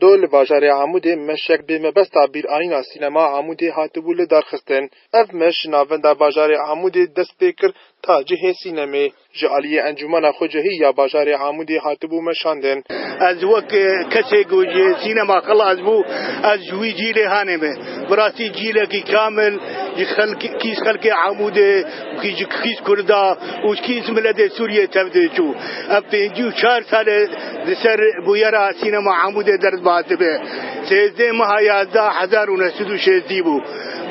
Do li bajarê Amûdê meşek bi mebesta bîrayîna sînema Amûdê hatibû lidarxistin. Ev meş ji navenda bajarê Amûdê dest pê kir ta cihê sînemê. Ji aliyê Encûmena Xwecehî ya bajarê Amûdê hatibû meşandin. Ez wek kesê ku ji sînema xilas bû, ez ji wî cîlê hanê me. Bi rastî cîlekî kamil ji kîz xelkê Amûdê û ji kîz kurda û ji kîz miletê Sûriyê tevdê çû. Ev pêncî û çar sal e li ser bûyera sînema Amûdê ders dibe. Sêzdeh meha yazdeh hezar û neh sed û şêzdî bû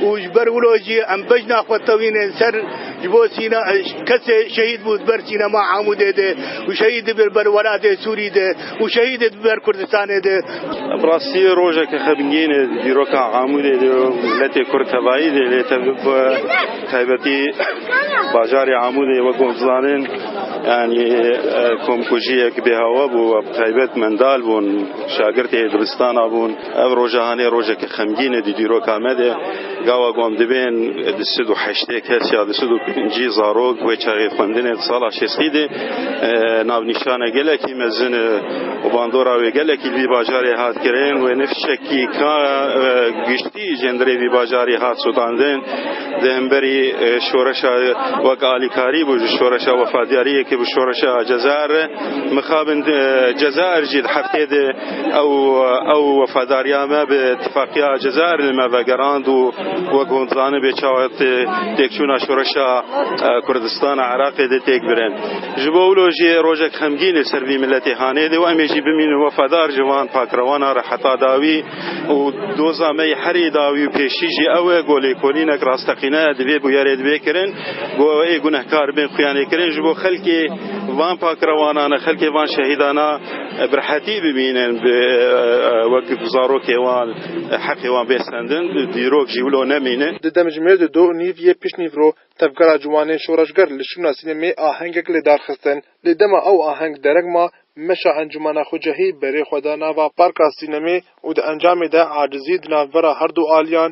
û ji ber wilo jî em bejna xwe tewînin ser. Ji bo sîna kesê şehîd bû di ber sînema Amûdê de û şehîd dibir di ber welatê Sûrî de û şehîd dibir di ber Kurdistanê de. Bi rastî rojeke xebingîn e di dîroka Amûdê de û miletê Kurd tevayî de lê bi taybetî bajarê Amûdê wek hûn dizanin yanî komkujiyek bêhawa bû we bi taybet mendal bûn, şagirtê dibistana bûn. Ev roja hanê rojekî xemgîn e di dîroka me de. Gawa ku em dibên di sid û heştê kes ya di sid û pêncî zarok wê çaxê xwendinê di sala şêstî de navnîşane gelekî mezin e û bandora wê gelekî li vî bajarê hat kirin. Wê ne fişekî ka giştî jê ndirê vî bajarî hat sotandin. Di hemberî şoreşa wek alîkarî bû ji şoreşa wefadiyariyekê bi şoreşa Cezayir re mixabin. Cezayir jî di heftê de Ew ew wefadariya me bi tifaqiya Cezayirê li me vegerand û wek hûn zanibê çawa tê têkçûna şoreşa Kurdistana Iraqê dê têk birin. Ji bo wilo jî rojek xemgîn li ser vî miletê hanê dê û em ê jî bimînin wefadar ji van pakrewana re heta dawî û doza me yê herî dawî û pêşî jî ew e ku lêkolînek rasteqîne di vê bûyerê divê kirin ku ew ê gunehkar bên xuya nêkirin ji bo xelkê van pakrewanan e xelkê van şehîdan e. Bi rehetî bibînin bi wek zarokê wan heqê wan bê sendin, bi dîrok jî wilo nemîne. Di demjimêr di do û nîv yê piştnîv ro Tevgera Ciwanên Şoreşger li şûna sînemê ahengek li dar xistin. Lê dema ew aheng dereng ma, meşa Encûmena Xwecehî berê xwe da nava parka sînemê û di encamê de acizî di navbera her du aliyan,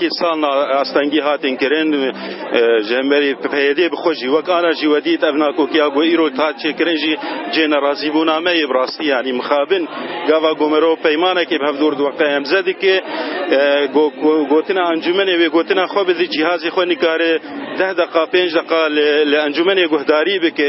Kî salna astengî hatin kirin ji hemberî PYD'ê bi xwe jî wek ana jî we dît ev nakokiya ku îro hat çêkirin jî cihê nerazîbûname ye bi rastî yanî mixabin gava ku mirov peymanekê bi hev dûr diweqe hemze dike gotina encûmenê wê gotina xwe bi cîhazê xwe nikare deh deqa pênc deqa li encûmenê guhdarî bike.